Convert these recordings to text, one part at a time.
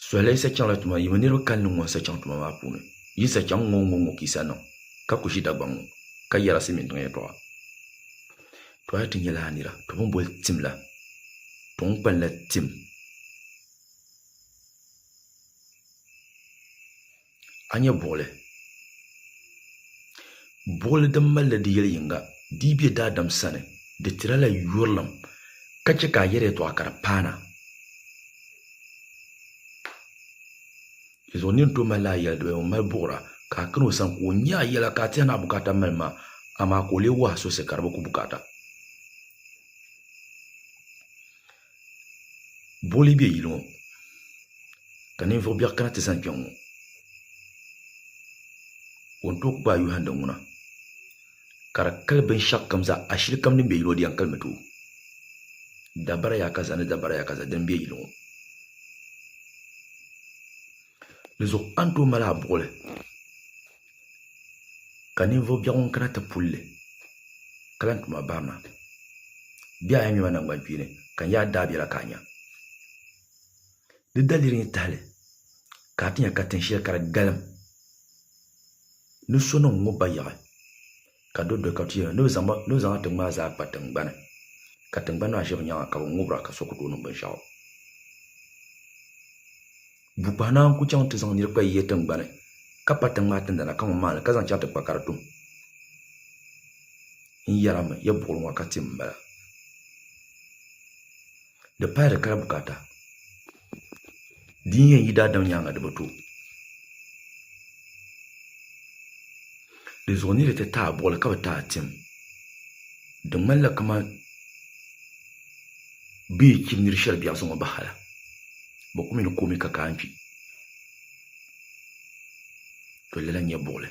Sɔhili sachaŋla tuma yi mini niriba kalinli ŋɔ sachaŋ tuma maa puuni. Yi sachaŋ ŋɔ ŋɔ ŋɔ kisa niŋ ka ku ʒi Dagbaŋ ŋɔ ka yɛra Silimiin tiŋ yɛltɔɣa. Tɔ a ti nyɛla a nira, tɔ bɛn boli tim la, tɔ n kpalinla tim. a nyɛ buɣili, buɣili din malila di yɛli yiŋga di yi be daadam sani di tiri a la yurilim ka chɛ ka a yɛri yɛtɔɣa ka di paana. Dinzuɣu nir tooi malila a yɛli di baya ŋun mali buɣira ka a kani o sani ka o nya a yɛla ka a tɛhi ni a bukaata mali maa, amaa ka o lee wahi a sɔsi ka di bi ku bukaata. Boli be yili ŋɔ ka ninvuɣ biɛɣu kana ti zani kpe ŋɔ. O ni tooi gbaai yuhindi ŋuna ka di kali binshɛɣukam zaa ashili kam din be yili ŋɔ di yɛn kalimi tooi. Dabara yaakaza ni dabara yaakaza dini m-be yili ŋɔ. Dinzuɣu a ni tooi mali a buɣili. ka ninvuɣ biɛɣu ŋun kana ti pul li ka lan ti ma bahi ma. Bɛ a yɛnyɛma naŋgbankpeeni ka n yaai daabiɛla ka a nya. Di daliri n yi tahili ka a ti nya ka tin shɛli ka di galim ni so niŋ ŋ ŋɔ bayaɣi. ka do doli ka tuya ni bɛ zaŋ a tiŋ maa zaa kpa tiŋgbani ka tiŋgbani maa ʒe bɛ nyaaŋa ka bɛ ŋubira ka so ku tooi niŋ binshɛɣu. Bukpahi naa n-ku chaŋ nti zaŋ nir kpa yiya tiŋgbani ka pa tiŋ maa tindana kaman maa ni ka zaŋ chaŋ ti kpa ka di tum. N yɛrimi, ya buɣili ŋɔ ka tim m-bala. di pahi di kali bukaata din yɛn yi daadam nyaaŋa di bi to di zuɣu ni di ti taai buɣili ka bi taai tim di ŋmanila kamani bɛ yi chim nir shɛli biɛɣuni ŋɔ bahi la bi ku mi ni koomi ka kaai kpi to lala n-nyɛ buɣili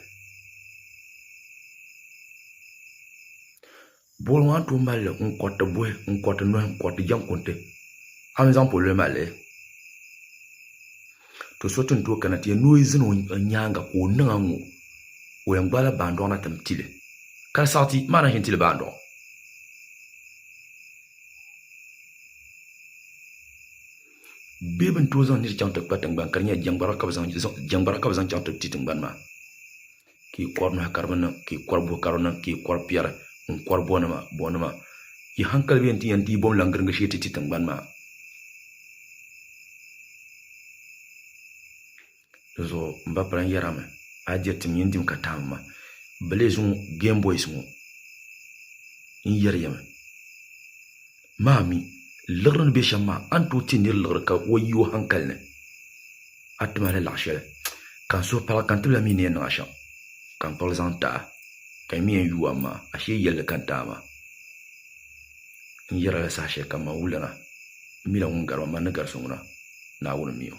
Boori ŋɔ a ni tooi mali li n kɔriti buhi n kɔriti nɔhi n kɔriti jɛŋkunti a ni zaŋ pololi mali li to so ti ni tooi kana ti yɛn nooi zani o nyaaŋa ka o niŋa ŋɔ ka o yɛn gbaala baandoɣu na ti ni ti li ka di saɣiti maa ni a ʒini ti li baandoɣu bee bi ni tooi zaŋ niri chaŋ ti kpa tingbani ka di nyɛla jɛŋgbara ka bi zaŋ chaŋ ti ti tingbani maa ka yi kɔri nahi ka di bi niŋ ka yi kɔri buhi ka di niŋ ka yi kɔri piɛri ŋun kɔri bɔnima bɔnima yi hankali bɛ yɛn ti yɛn dii bom lan giringi shee ti ti tiŋgbani maa di zuɣu n ba pala n yɛra mi a diri tim yɛn dim ka taai mi ma bɛ lee zuŋɔ game boys ŋɔ n yɛri ya mi Maa mi, liɣiri ni be shɛm maa, a ni tooi ti nir liɣiri ka o yi o haŋkali ni. A ti mahili laɣ shɛli, ka n suhu pala ka n tibila mi ni yɛn niŋ a shɛm, ka n kpuɣili zaŋ ti a, ka yi mi yɛn yuui a maa, ashee yɛlli ka n ti a maa. N yɛra la saha shɛli kam man wulana, m mila ŋun gari ma, man ni gari so ŋuna, Naawuni mi o.